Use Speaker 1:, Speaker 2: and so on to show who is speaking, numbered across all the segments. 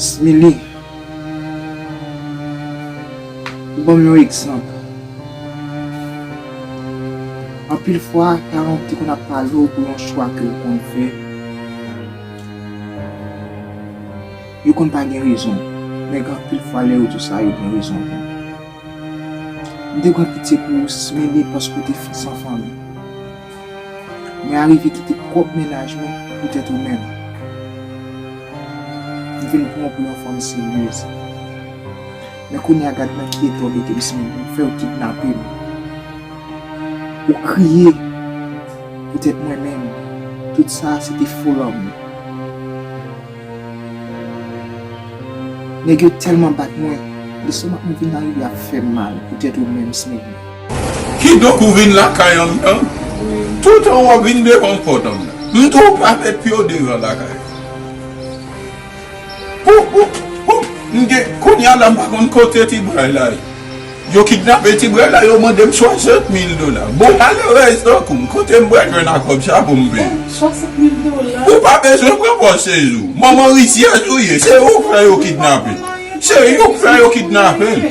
Speaker 1: Smile Ou ban m yon egzanp Anpil fwa paran w te konn ap pale w pou yon chwa ke w konn fè Yo konn pa gen rezon men gen anpil fwa lè yo di w sa yo gen rezon vre M te pran pitye pou ou Smile paske w te fè san fanmi. Mwen arive kite pwòp mennaj mwen poutèt ou menm. M vin pran w pou yon fanm seryez. Men kounye a gad nan ki eta w mete m siman pou m fè w kidnape m. Ou kriye poutèt mwen men tout sa a se te fo lanmou. Nèg yo tèlman bat mwen, lestomak mwen vin arive ap fè m mal poutèt ou menm siman. Kidonk
Speaker 2: ou vin lakay anndan, tout an wòb vin devan pòt anndan. M tou pa met pyo devan lakay an. Pou pou pou m gen kounye a la m pa konn kote ti bray la ye. Yo kidnape ti bray la yo mande m 60 mil dola. Bon malerèz tankou m kote m pral jwenn ak kòb sa pou m peye.
Speaker 3: Ou pa bezwen
Speaker 2: pran pòz sezi w. Manman rizyèz ou ye. Se ou k fè yo kidnape l. Se ou k fè yo kidnape l.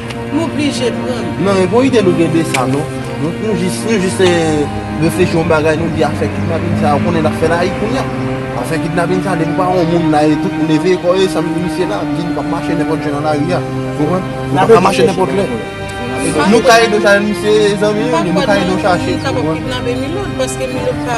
Speaker 3: Nou oblije pran l. Non e bon ide nou gen
Speaker 4: de sa non. Nou jis reflechi yon bagay nou di afè kidnapin sa ou konnen lap fè layi kounya. Afè kidnapin sa depi pa yon moun la e tout moun eveye kò e sanble misye la ap di nou kap mache nenpòt jan nan lari a. Ou konprann? Nou pa ka mache nenpòt lè. Nou ka ede w chache misye e zanmi nou li, nou ka ede w chache. Mpa kwè moun kapab kidnape
Speaker 3: Milot paske Milot pa.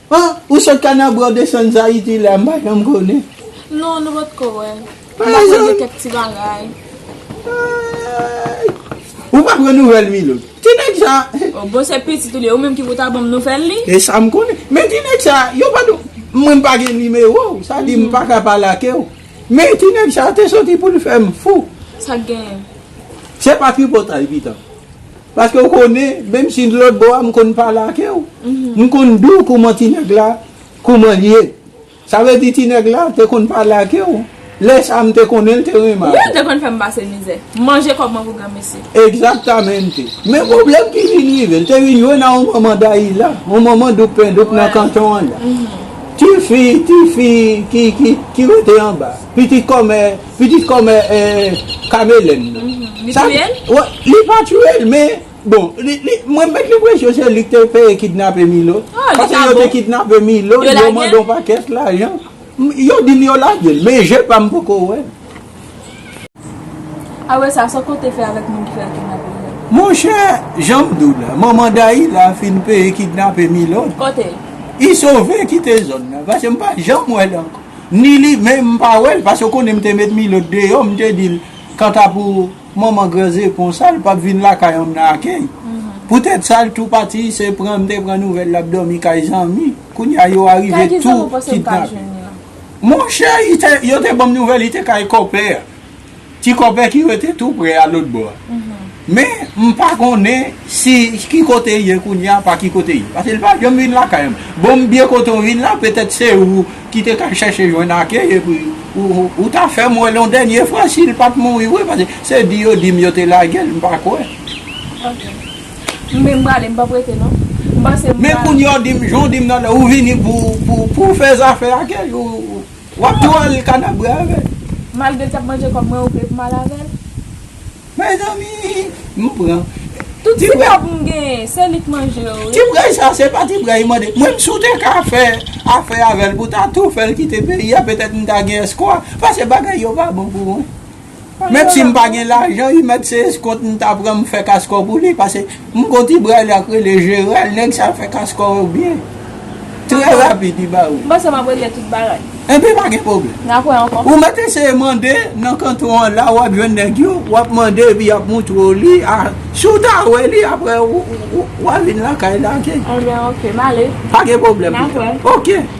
Speaker 4: Ah ou sot kanabra ou desann zayiti la m pa janm konnen. Non nou pot
Speaker 5: ko wè. M ta tande
Speaker 4: kèk
Speaker 5: ti bagay. Aayy
Speaker 4: ou pa pran nouvèl Milo. Ti nèg sa. Oh bon se pitit ou
Speaker 5: li ye ou menm ki pou ta banm nouvèl li. E sa m konnen. Men
Speaker 4: ti nèg sa yo pa do mwen m pa gen nimewo ou sa di m pa ka pale ake ou. Men ti nèg sa te soti pou l fè m fou. Sa k genyen.
Speaker 5: Se pa
Speaker 4: tripotay pito. Paske ou konnen, menm si n lòtbò a, m konn pale ake w. M konn di w kouman ti nèg la, kouman l ye. Sa vle di ti nèg la te konn pale ake w. Lè sa a m te konnen l te renmen ake w. Wi, l te konn fè m pase
Speaker 5: mizè. Manje kòb mwen pou granmesi. Egzaktamente.
Speaker 4: Men pwoblèm ki vin rive, l te vin jwenn a yon manman Dayila, yon manman doukpendoup nan kanton an la. Ti fi, ti fi ki rete anba. pitit kòmè pitit kòmè kamelèn nan li touyel? li
Speaker 5: pa
Speaker 4: touyel men bon mwen met lenpresyon se lik te peye kidnape milo paske yo te
Speaker 5: kidnape
Speaker 4: milo
Speaker 5: yo
Speaker 4: mandon
Speaker 5: pakèt
Speaker 4: lajan yo dil yo lagel men je pam poko wèl
Speaker 5: awe sa sa kote fè avèk moun ki al kidnape milo monchè
Speaker 4: janm diw la manman dayila fin peye kidnape milo kote?
Speaker 5: isove
Speaker 4: kite zòn nan paske mpa janm wèl ankò. ni li men m pa wè l paske ou konnen m te met Milot deyò m te di l kanta pou manman gran zepon sa l pap vin lakay an m nan akèy poutèt sa l tou pati se pran m te pran nouvèl l ap dòmi kay zanmi kounye a yo arive tou kidnape l monchè yo te ban m nouvèl li te kay kòpè a. Ti kòpè ki rete tou prè a lòt bò a. Men, m pa konnen si ki kote l ye kounye a, pa ki kote l ye. Pase l pa janm vin lakay m. Bon, m byen kote w vin la, petèt se ou ki te ka chèche jwenn ake epi ou ta fè m wè l yon dènye fwa si l pa t mouri vre. Pase se di yo di m yo te lage l, m pa kwè. Ok. M
Speaker 5: vin m prale, m p ap rete non. M panse m pral. Men kounye
Speaker 4: a w di m, jan w di m nan lè, ou vini pou w fè zafè ake l. Wap tou al kanabre avèl. Malgre l tap
Speaker 5: manje kob
Speaker 4: mwen ou
Speaker 5: vle pou m al avèl. Mezanmi m pran. Tout ti kob m genyen se li k manje yo wi. Ti bray sa se pa
Speaker 4: ti bray mande. Mwen m si w te ka fè afè avèl pou ta tou fèl kite peyi a petèt m ta gen espwa paske bagay yo pa bon pou mwen. Mèt sim pa gen lajan ui mèt se eskont m ta pran m fè kaskò pou li pase m gon ti bray la k rele jeral nèg sa fè kaskò yo byen trè rapid li ba ou. M panse map regle tout
Speaker 5: bagay. Enben pa gen pwoblèm.
Speaker 4: Nap wè ankò. Ou mèt
Speaker 5: eseye mande
Speaker 4: nan kanton an la wap jwenn nèg yo wap mande epi yap moutre w li a si w ta wè li aprè wa vin lakay la ok. Enben ok m ale.
Speaker 5: Pa gen pwoblèm
Speaker 4: pito. Nap wè.
Speaker 5: Ok.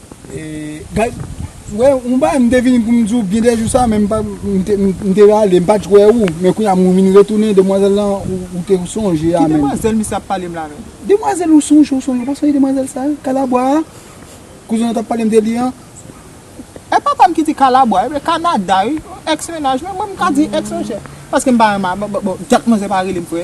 Speaker 4: Wè yon bagay mte vini poum diw gen de jou sa men mte rale mpat k wè ou men kounya mwen vin retounen demwazèl lan ou te sonje a menm. Ki demwazèl misye ap palem la
Speaker 1: menm. Demwazèl ou sonje ou
Speaker 4: sonje ou pa sonje demwazèl sa kalabwa a kouzen an tap palem de li an. E
Speaker 1: pa pam ki di kalabwa epi kanada wi ex mennaj mwen mwen mka di ex monchè paske mpa renmen bon dat manzè pa relem frè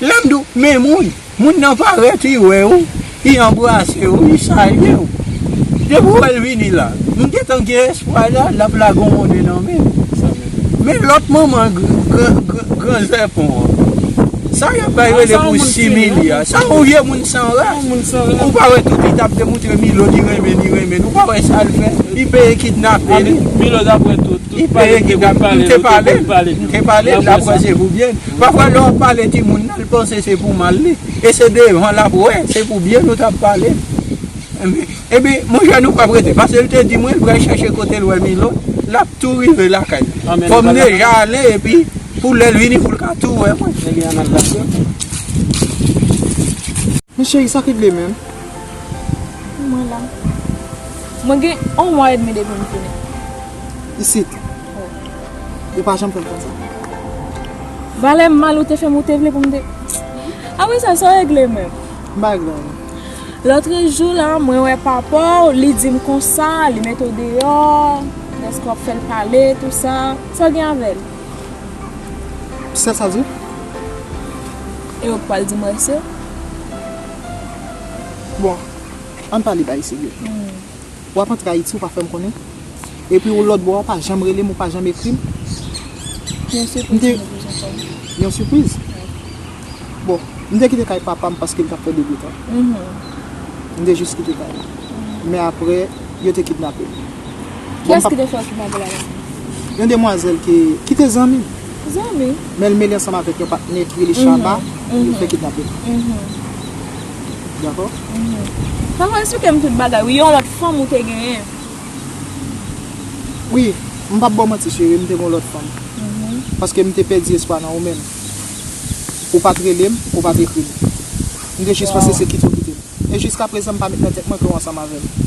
Speaker 4: Lè m di w, men moun, moun nan parèt, li wè ou, li anbrase ou, li salye ou. Depi w wè l vini la, m gentan gen espwa la, l ap lage yon monnen nan men m. Men lòt manman gran zèpon an, sa y ap bay rele pou similye a, sa yon vye moun san ras. Ou pa wè tout li t ap demontre Milo li renmen, li renmen l. Ou pa wè sa l fè? Li peye kidnape li.
Speaker 6: Li peye ki dam,
Speaker 4: m te pale, m te pale, l ap wè se pou byen l. Pafwa lè w ap pale timoun nan, l panse se pou mal li. E se devan l ap wè, se pou byen l ou t ap pale. Epi, monchè nou pap rete. Pase l te di mwen l pral chache kote l wè Milot, l ap tou rive lakay li. Fò m deja ale epi pou lè l vini pou l ka tou wè mwen. Ebyen an n al
Speaker 1: lakay l. Men cheri, sa ki vle menm?
Speaker 5: Mwen la. Mwen gen on mwa edmi depi m tounen. isit.
Speaker 1: Yo pa janm fè m konsa.
Speaker 5: Valè m mal ou te fè m ou te vle pou m te. Apre sa, sa w regle menm? M pa regle anyen. Lòtrejou la, mwen wè papa w, li di m konsa, li mete w deyò, dèske w ap fè l pale, tou sa. Sa gen avè l?
Speaker 1: Sèl sa l di w?
Speaker 5: E ou pa l di m rès yo?
Speaker 1: Bon, an n pale bay serye. Wap antre Ayiti ou pa fèm konnen? Epi ou lòt bò a ou pa janm relem ou pa janm ekrim? Yon sipriz
Speaker 5: mwen te
Speaker 1: bezwen fè ou. Yon sipriz? Bon, m te kite kay papam paske li tap fè degoutan. M te jis kite kay la. Men aprè yo te kidnape m. Kiyès
Speaker 5: ki te fè ou kidnape la menm? Yon demwazèl
Speaker 1: ki te zanmi m. Zanmi?
Speaker 5: Men li mele ansanm
Speaker 1: avèk yon patnè ki rele Shaba, yo te kidnape m. Dako? Sa pral
Speaker 5: sou kèm tout bagay wi yon lòt fanm ou te genyen.
Speaker 1: Wi, m pap baw manti cheri m te gen yon lòt fanm. Paske m te pèdi espwa nan ou menm. Ou pat rele m, ou pat ekri m. M te jis panse se kite ou kite m. E jiska prezan m pa met nan tèt mwen ke ou ansanm avè m.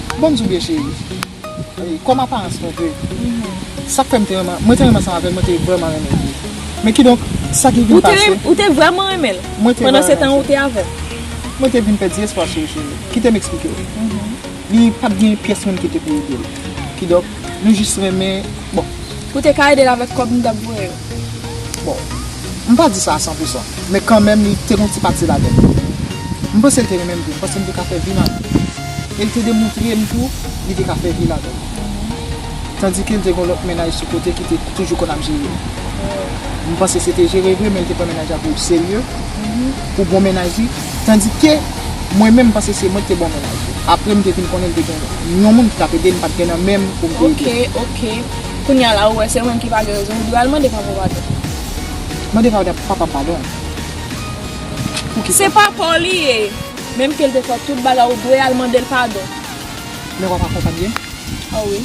Speaker 1: Bon souliye cheri. Kòm aparans nou de. Sak fèm te renmen, mwen te renmen ansanm avèl, mwen te vrèman renmen li. Men kidonk, sa ki vin pase. Ou te vrèman renmenl?
Speaker 5: Mwen te vrèman renmenl. Pandan se tan ou te avèl? Mwen te vin
Speaker 1: pèdi espwa sou li cheri. Kitem eksplikew. Li pat gen pyès moun ki te pou edel. Kidonk, nou jis renmen, bon. Ou te ka edel
Speaker 5: avèk kòb nou tap voye yo? Bon,
Speaker 1: m pa di sa a san pou san, men kanmenm li te gen yon ti pati ladan l. M panse l te renmen m tou, m panse m te ka fè vi ladan l. E l te demoutre m tou li te ka fè vi ladan l. Tandike l te gen yon lòt mennaj sou kote ki te toujou konn ap jere l. M panse se te jere vre men l te pran mennaj la pou oserye, pou bon mennaj li, tandike mwen menm m panse se mwen ki te bon mennaj li. Apre m te vin konnen l te gen yon moun ki t ap ede l, m pa t gen nan men m pou m te ede l. Ok, ok.
Speaker 5: Kounya la ou wè se mwen ki pa gen rezon ou dwe al mande papaw
Speaker 1: padon. Mande papam padon pou kisa?
Speaker 5: Se papaw li ye menm kel te fè tout bagay ou dwe al mandel padon. Men wap
Speaker 1: akonpanye m. Oh wi.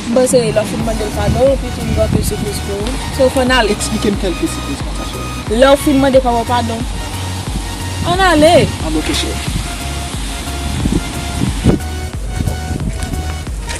Speaker 5: M panse lè ou fin mandel padon ou pi fin gen anpil sipriz pou ou. Se ou k konn ale. Eksplikem kelke sipriz
Speaker 1: konsa cheri. Lè ou fin mande papaw
Speaker 5: padon. Ann ale. Ann ok cheri.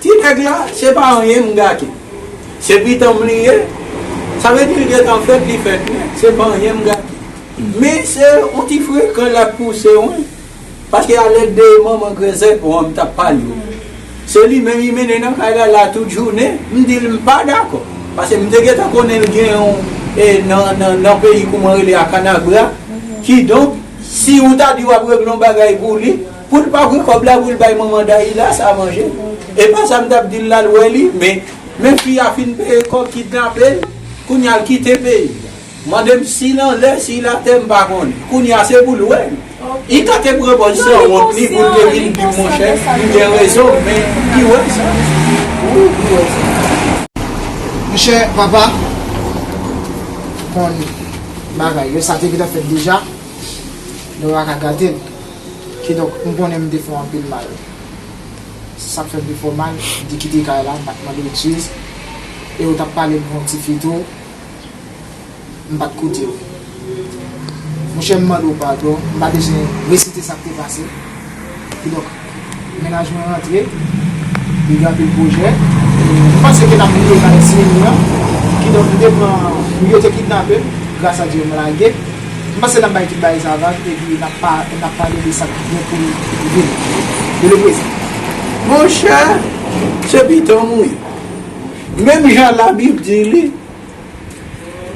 Speaker 4: Ti nèg la, se pa anyen m gate. Se pitanm m li ye. Sa vle di li gentan fèt, li fèt nèt. Se pa anyen m gate. Men se yon ti frekan l ap pouse wen. Paske a lèt de manman grèzèt ou an m t ap pale ou. Se li menm li mennen nan kay la la tout jounen. M di l m pa dakò. Paske m te gentan konnen l gen yon e nan nan peyi kouman rele a Kanabra. Kidonk, si ou ta di w ap regle yon bagay pou li. Poul pa pran kòb la poul bay manman Dahila sa manje epa sa mtap dil lal wè li men men fi a fin peye kòb kidnapel kounya l kite peyi mandem sil anlè sil atè mpa konnen kounya se poul wèl li ka te pran pòz sanwont li poul te vin dim monchè mgen rezon m men li wè sa wi li wè sa.
Speaker 1: Monchè papa konn bagay yo sa te gentan fèt deja nou paka gatel. Kidonk, m konnen m te fè w anpil mal. Si sa fè m te fè w mal, m te kite kay la, m pa t mande w ekskiz, e ou t ap pale devan yon tifi tou, m pa t koute w. Monchè, m mande w padon, m pa bezwen resite sa k te pase. Kidonk. Mennaj mwen rantre, li gen anpil pwojè. M panse ke n ap rive jwenn ti Mimi an. Kidonk m te pran, wi yo te kidnape m, gras a Dye m lage. M panse n ap bay tout bagay sa vag epi n ap pa, n ap pale de sa k gen pou n vini, de le prezan. Monchè,
Speaker 4: se piton m wi. Menm jan labib di li,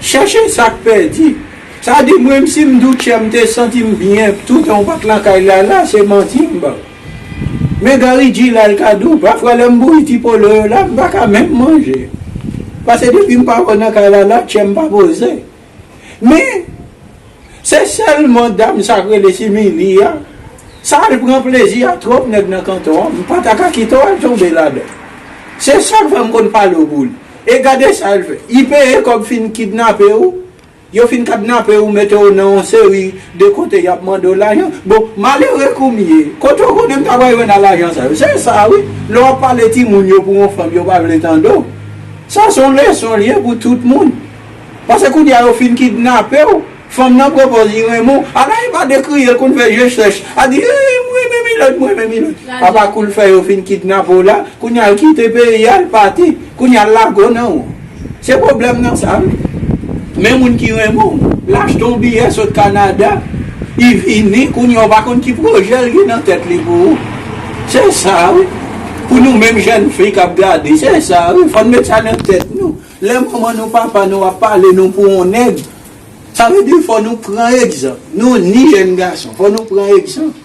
Speaker 4: chèche sa k pèdi. Sa di mwen si m Doutchè m te santi m byen toutan w pa t lakay Lala se manti m ban Men Garry G la l ka dou pafwa lè m bouyi ti polo yo la m pa ka menm manje Pase depi m pa wè w nan kay Lala Doutchè m pa poze Men se sèlman dam sa k rele Simili a sa l pran plezi a twòp nèg nan kanton an m pa ta ka kite w al tonbe ladan l Se sa k fè m konn pale w pou l E gade sa l fè I peye kòb fin kidnape w Yo fin kadnape ou mete ou nan yon seri de kote yap mande ou lajan bon malere kou m ye kote ou konnen m ta pral jwenn a lajan sa yo se sa wi lè wap pale timoun yo pou yon fanm yo pa vle tande w sa se yon leson l ye pou tout moun pase kounye a yo fin kidnape w fanm nan pran pòz li renmen w ala e pa de kriye l konn fè je chèch a di ee m renmen milòt m renmen milòt apa kou l fè yo fin kidnape w la kounye a l kite peyi a l pati kounye a l lago nan w. Se pwoblèm nan sa wi. Men moun ki renmen w, l achte yon biyè sot Kanada, li vini, kounye a ou pa konn ki pwojè l gen nan tèt li pou ou. Se sa wi. Pou nou menm jèn fi k ap gade, se sa wi. Fò n met sa nan tèt nou. Lè manman nou, papa nou ap pale nou pou yon nèg, sa vle di fò nou pran egzanp. Nou ni jèn gason, fò nou pran egzanp.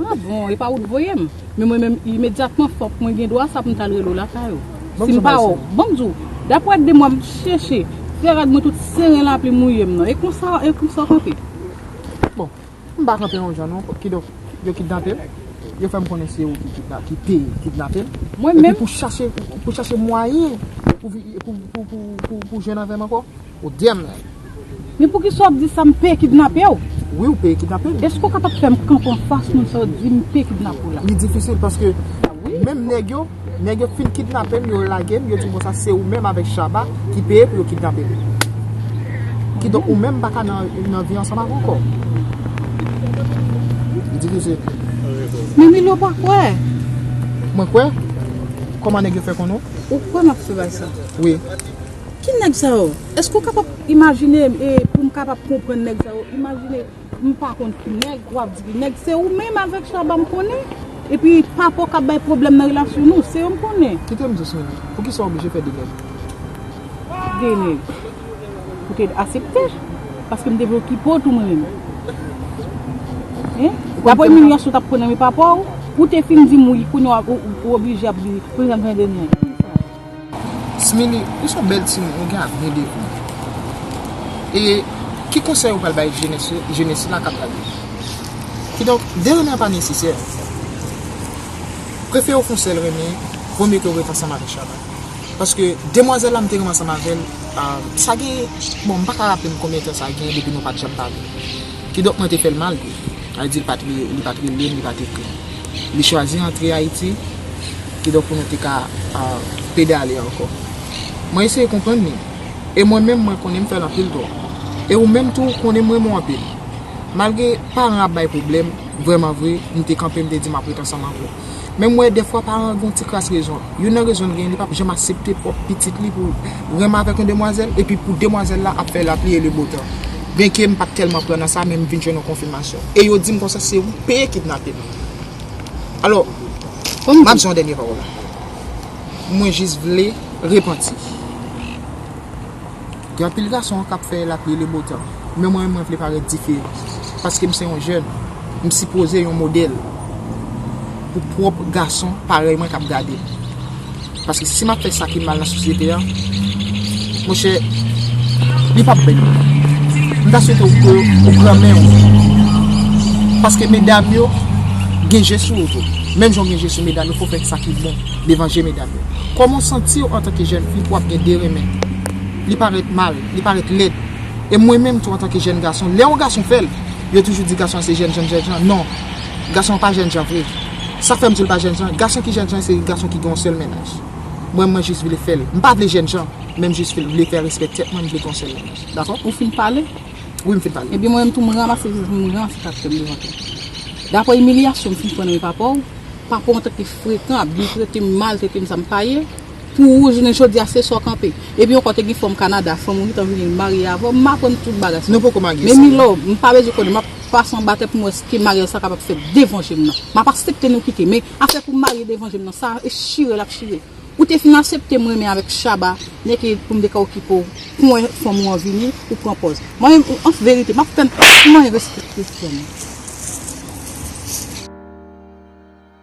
Speaker 1: Ah bon,
Speaker 3: e pa ou t voye m? Men mwen menm imedyatman fòk mwen gen dwa sa poum tal rele w lakay ou. Si m pa wè w, bon m di w, daprè 2 mwa m chèche, fè rad mwen tout seren lapli mouye m nan. E konsa e konsa w kanpe? Bon,
Speaker 1: m pa kanpe yon jan non, kidonk yo kidnape m, yo fè m konnen se ou ki te kidnape m,
Speaker 3: epi pou
Speaker 1: chache mwayen pou jwenn avè m ankò. Ou dèm nèg. Men poukisa
Speaker 3: wap di sa m pe kidnapew. Wi ou pe kidnape
Speaker 1: m. Eske w kapab fè m kanpe
Speaker 3: an fas moun sa yo di m pe kidnape w la. Li difisil paske
Speaker 1: menm nèg yo, nèg yo fin kidnape m yo lage m yo di m konsa se ou menm avèk Shabba ki peye pou yo kidnape m. Kidonk ou menm m pa ka nan vi ansanm avè w ankò. Li difisil. Men
Speaker 3: Milo pa kwè. Mwen
Speaker 1: kwè? Kòman nèg yo fè konnen w? Ou kwè m ap fè bagay
Speaker 3: sa? Wi.
Speaker 1: Ki nèg
Speaker 3: sa yo? Eske ou kapab imajine e pou m kapab konprann nèg sa yo? Imajine m pa konn ki nèg, wap di ki nèg. Se ou menm avèk Shabba m konnen. Epi Papo k ap bay pwoblèm nan relasyon nou. Se yo m konnen. Kite m di w Swingy,
Speaker 1: poukisa w oblije fè de nèg? De nèg?
Speaker 3: Ou te asepte? Paske m te vle w Pipo tou mwen menm. Hein? Dapre imilyasyon w t ap pran nan men papa w, ou te fin di m wi, kounya w oblije ap di pou l vin ap gen de nèg.
Speaker 1: Smili, ou son bèl timoun,
Speaker 3: ou gen
Speaker 1: avni devan ou. E ki konsèy ou pral bay jenès yo, jenès la kap gade yo? Kidonk, de renmen an pa nesesè. Prefe yo konsèy l renmen, vo mye ke w ret ansanm avèk Shabba. Paske demwazèl la m te renmen ansanm avè l, sa gen, bon m paka raple m konbyen tan sa gen depi nou pat janm pale. Kidonk mwen te fè l mal tou. Sa vle di li pa t li, li pa t rele m, li pa t ekri m. Li chwazi antre Ayiti, kidonk pou nou te ka pedale ankò. Mwen eseye konprann li. E mwen menm mwen konnen m fè l anpil tò. E ou menm tou konnen m renmen w anpil. Malgre paran ap bay pwoblèm, vrèman vre, m te kanpe m te di m ap ret ansanm avè w. Men m wè dèfwa paran gen yon ti kras rezon. Youn nan rezon l genyen li pap janm asepte pwòp pitit li pou renmen avèk yon demwazèl epi pou demwazèl la ap fè lapli e lebotan. Byenke m pat tèlman pran nan sa men m vin jwenn yon konfimasyon. E yo di m konsa se ou k peye kidnape m. Alò, m ap di yon dènye pawòl. Mwen jis vle repanti. Gen anpil gason kap fè lap lele botan men mwen menm mwen vle parèt dife paske m se yon jèn m sipoze yon modèl pou pwòp gason parèy mwen kap gade m paske si map fè sa ki mal nan sosyete an monchè li pap bèl m ta swete ou pran men w paske medam yo gen je sou ou tou menm jan ou gen je sou medam yo fò w fè sa ki bon. Devan je medam yo. Kòman w santi w antanke jèn fi pou w ap gen 2 renmen? Li parèt mal, li parèt lèd. E mwen menm tou antanke jèn gason, lè yon gason fè l, yo toujou di gason an se jènjan jènjan. Non, gason an pa jènjan vre. Sa fè m di l pa jènjan, gason ki jènjan se gason ki gen yon sèl mennaj. Mwen, mwen jis vle fè l. M pa vle jènjan, men m jis vle fè respè tèt mwen, m vle gen yon sèl mennaj. Dakò? Ou fin pale?
Speaker 3: Wi, m fin pale.
Speaker 1: Ebyen mwen menm tou m ranmase,
Speaker 3: m ranse tèt mwen devan tèt mwen. Dapre imilyasyon m fin pran nan men papa w, papa w antanke. Frekan ap vin trete m mal trete m sa m pa ye pou ou jounen jodi a se sa w kanpe epi ankò te gen fanm kanada fanm ou gentan vini marye avè w m aprann tout bagay sa men Milo
Speaker 1: m pa bezwen
Speaker 3: konnen m ap pase anba tè pou m wè si maryaj sa kapab fèt devan je m nan m ap asepte nou kite men afè pou marye devan je m nan sa e chire l ap chire ou te fin asepte m renmen avèk Shaba nèk e pou m te ka okipe w pou m wè fanm ou an vini ou pran pòz mwen menm an verite m ap tann pou maryaj la se te pou fanm.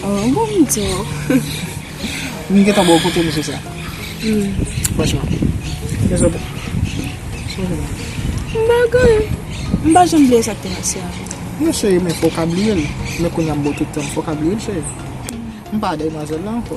Speaker 1: Bon bon m
Speaker 5: di w.
Speaker 1: M gentan ba w kote mesye sa. Franchman. Mesye sa bon. Sou w menm. M ba l
Speaker 5: kanmèm. M pa janm bliye sa k te pase a. Non cheri men
Speaker 1: fò w ka bliye l. Men kounya m ba w tout tan m. Fò w ka bliye l cheri. M pa dèyimwazèl la ankò.